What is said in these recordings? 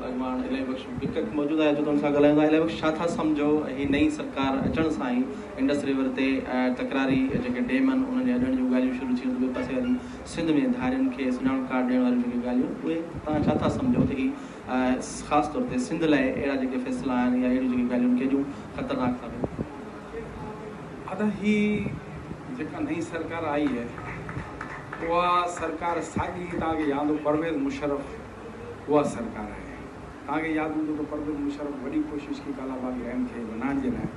اڳواڻ الهي بخش بڪڪ موجود آهي جيڪو ان سان ڳالهائيندو الهي بخش ڇا ٿا سمجهو هي نئين سرڪار اچڻ سان ئي انڊس ريور تي تڪراري جيڪي ڊيم آهن انهن جي اڏڻ جون ڳالهيون شروع ٿيون ته ٻئي پاسي واري سنڌ ۾ ڌارين کي سڃاڻپ ڪارڊ ڏيڻ واريون جيڪي ڳالهيون اهي توهان ڇا ٿا سمجهو ته هي خاص طور تي سنڌ لاء اهڙا جيڪي فيصلا آهن يا اهڙيون جيڪي ڳالهيون ڪيڏيون خطرناڪ ثابت ادا هي جيڪا نئين سرڪار آئي اها سرڪار ساڳي توهان کي ياد هو پرويز مشرف اها سرڪار آئي آهي. توهان کي ياد هوندو ته پرويز مشرف وڏي ڪوشش ڪئي ڪالا باغ رهن کي ونهائڻ جي لاء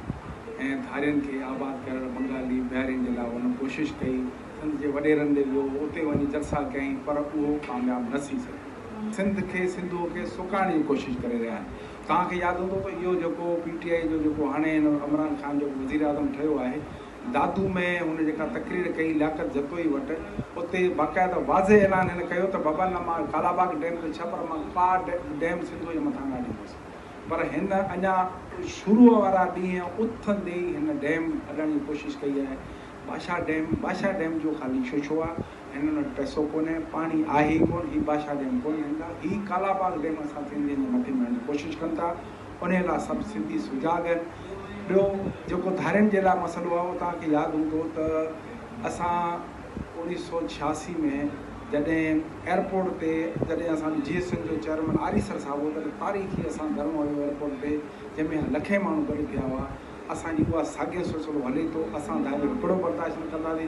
۽ ڌارين کي آباد ڪرڻ بنگالي بهارين جي لاء هن ڪوشش ڪئي، سنڌ جي وڏيرن ڏي ويو، اتي وڃي جلسا ڪيائين پر اهو ڪامياب نه ٿي سگهيو. سنڌ کي سنڌوء کي سڪائڻ جي ڪوشش ڪري رهيا آهن. توهان کي ياد هوندو ته اهو جيڪو پي ٽي آئي جو جيڪو هاڻي هن عمران خان جيڪو وزيراعظم ٺهيو آهي، دادو ۾ هن جيڪا تقرير ڪئي لياقت جتوئي وٽ، اتي باقاعده واضح اعلان هن ڪيو ته بابا نه مان ڪالاباغ ڊيم جو ڇهه پر مان ڪا ڊيم سنڌوء جي مٿان نه اڏيندس. پر هن اڃا شروع وارا ڏينهن اٿندي ئي هن ڊيم اڏڻ جي ڪوشش ڪئي آهي. باشا ڊيم، باشا ڊيم جو خالي شوشو آ، هنن وٽ پئسو ڪونهي، پاڻي آهي ئي ڪونه، هي باشا ڊيم ڪونه ٺاهيندا، هي ڪالاباغ ڊيم اسان سنڌين جي مٿي مڙهڻ جي ڪوشش ڪن ٿا. انهيء لاء سڀ سنڌي سجاڳ آهن. ٻيو جيڪو ڌارين جي لاء مسئلو آهي اهو توهان کي ياد هوندو ته اسان اوڻيهه سؤ ڇياسي ۾ جڏهن ايئرپورٽ تي جڏهن اسان جو جي ايس ايم جو چيئرمين آريسر صاحب هو تڏهن تاريخي اسان ڌرڻو هنيو ايئرپورٽ تي جنهن ۾ لکين ماڻهو گڏ ٿيا هئا. اسان جي اها ساڳيو سلسلو هلي ٿو. اسان ڌاريو هڪڙو برداشت نه ڪنداسين.